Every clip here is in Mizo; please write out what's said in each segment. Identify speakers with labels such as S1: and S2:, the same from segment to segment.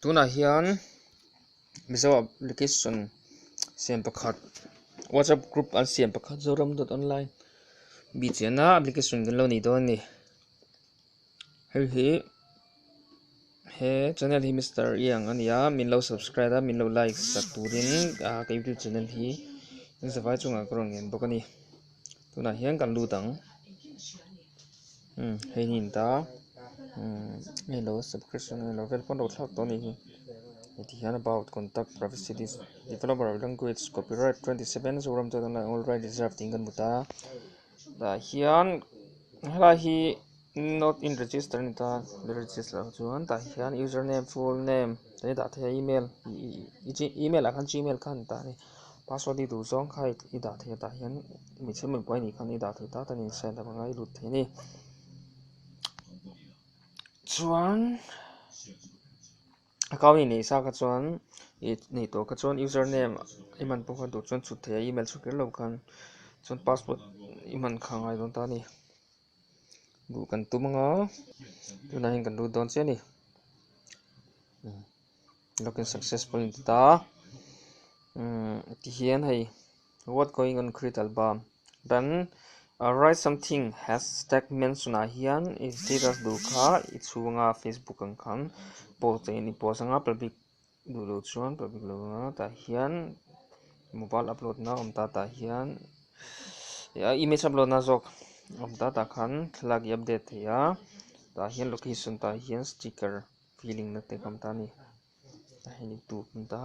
S1: tunah hian mizo application siam pakhat whatsapp group an siam pakhat zoram dot online mi chiahna application kan lo nei dawn a ni hei hi he channel hi Mister Ian a ni a min lo subscribe a min lo like sak turin ka youtube channel hi engzawhai chungah ka rawn nghen bawk a ni. tunah hian kan lut ang hei hnin ta nge lo subscription nge lo vel pawn lo thlak tawh a nih hi heti hian about contact privacy developer language copyright twenty seven Zoram chuan online all rights reserved tiin kan hmu ta tah hian helai hi-- Not in register a ni ta, register loh chuan tah hian user name full name kan i dah thei a email email ah khan gmail kha a ni ta a ni password i duh zawng kha i dah thei a tah hian hmeichhe mipuite pawh a nih khan i dah thei ta chuan insight lam anga i lut thei a ni chuan account inneih sa kha chuan inneih tur kha chuan user name i man pawh kha duh chuan chhut thei a email chhut ker lo khan chuan password i man kha ngai dawn ta a ni. duh kan tum anga tunah hian kan lut dawn chiah a ni login success pawh a inti ta a umm tihian hei what going on create album then write something has tag mention ah hian status duh kha i chhunga facebook ang khan post a in post anga public -- Duhloh chuan public lo langa tah hian mobile upload na awm ta tah hian ah image upload na zawk awm ta tah khan thlalak hi update thei a tah hian location tah hian sticker filing na te ka awm ta a ni tah hian in tur awm ta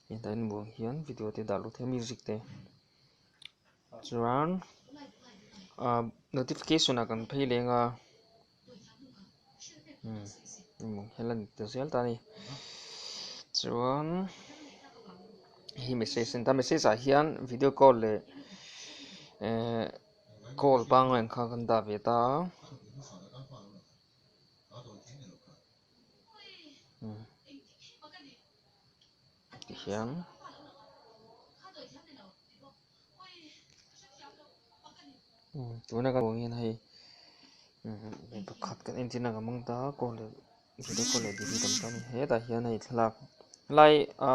S1: heng tah hian bulah hian video te dah lut theih a music te chuan ah notification ah kan phei leng a. hela ni ta zel ta a ni chuan he message a ni ta a message ah hian video call leh ehh call pangngai ang kha kan dah ve ta a. Tihian tuna ka ruang hian hei mi pakhat kan entirna kan mang ta a call leh video call leh tihhi tam ta a ni hetah hian hei thlalak lai a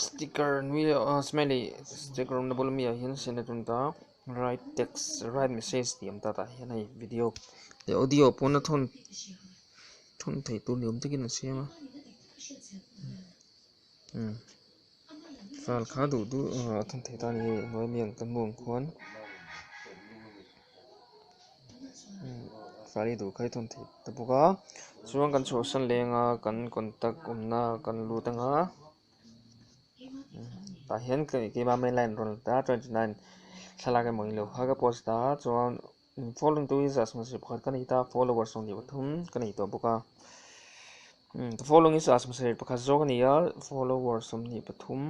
S1: sticker nui leh a smiley sticker awmna bul ami ah hian a sen a tun ta write text write message tih awm ta tah hian hei video leh audio pawn a thawn-- Thun thei tur ni awm takin a siam a, umm fal kha duh duh emaw a thun thei ta ni ngei hnuai mian ka hmu ang khuan umm fal hi duh kha i thun thei ta bawk a, chuan kan chhuahsan leng a kan contact awmna kan lut ang a, tah hian keima main line a rawn la ta a twenty nine thlalak emaw ni lo kha ka post a chuan-- Following two is a samse pakhat ka nei ta followers ang tih pathum ka nei tawh bawk a the following is a samse pakhat zawk a ni a followers ang tih pathum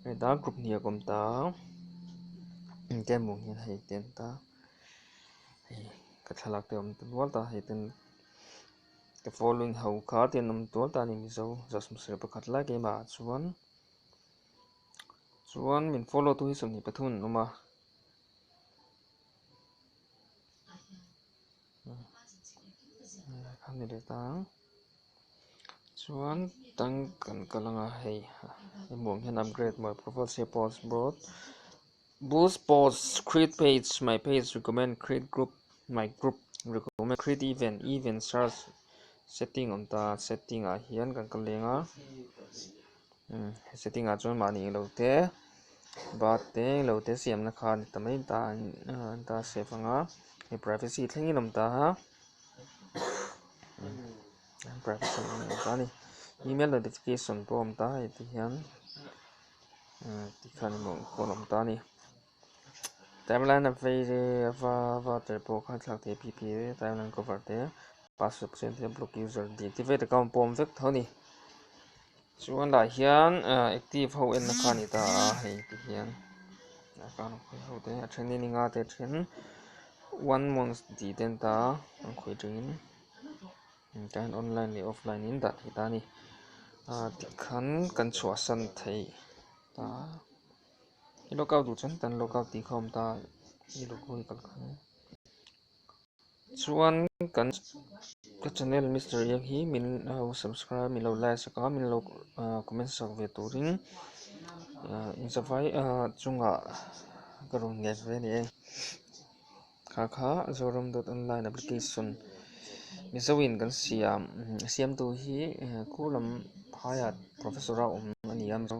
S1: hei ta group hnih a kawm ta ken mawng hian hei ten ta hei ka thlalak te awm ta nual ta hei ten the following ho kha te an awm tual ta ni mizo za samse pakhat lai ke mah chuan chuan min follow tu hi sam ni pathum an awm a a ni le ta chuan tan kan kal ang a hei hmuh ang hian upgrade mawlh profile save post boost boost post create page my page recommend create group my group recommend create event event search setting awm ta setting ah hian kan kal leng a. He setting ah chuan mahni eng lo te bar te eng lo te siamna khan ta mai ta an ta siam vang a hei privacy thlengin awm ta a privacy awm ta kha a ni email notification pawh a awm ta a heti hian tikhan pawh an awm ta a ni. Timeline a vei re a va va tel pawh kha thlak thei pi pi re timeline cover te password paw chian theih block user tih ti vet account pawm vek tho ni chuan lah hian active ho enna kha ani ta a hei ti hian account a khawih ho te a then in i nga te then one month tih te an ta a an khawih thin in tlai han online leh offline in dah thei ta a ni tih khan kan chhuah san thei ta a. I log out duh chuan hetiang log out tih kha awm ta i log out hi ka la kham a chuan kan ka channel Mister Yak hi min lo subscribe min lo like sak a min lo comment sak ve turin inzavai chungah ka rawn nghet ve a ni e kha kha Zoram dot online application mizo in kan siam siamtu hi khurlam haiat professor a awm a ni a mizo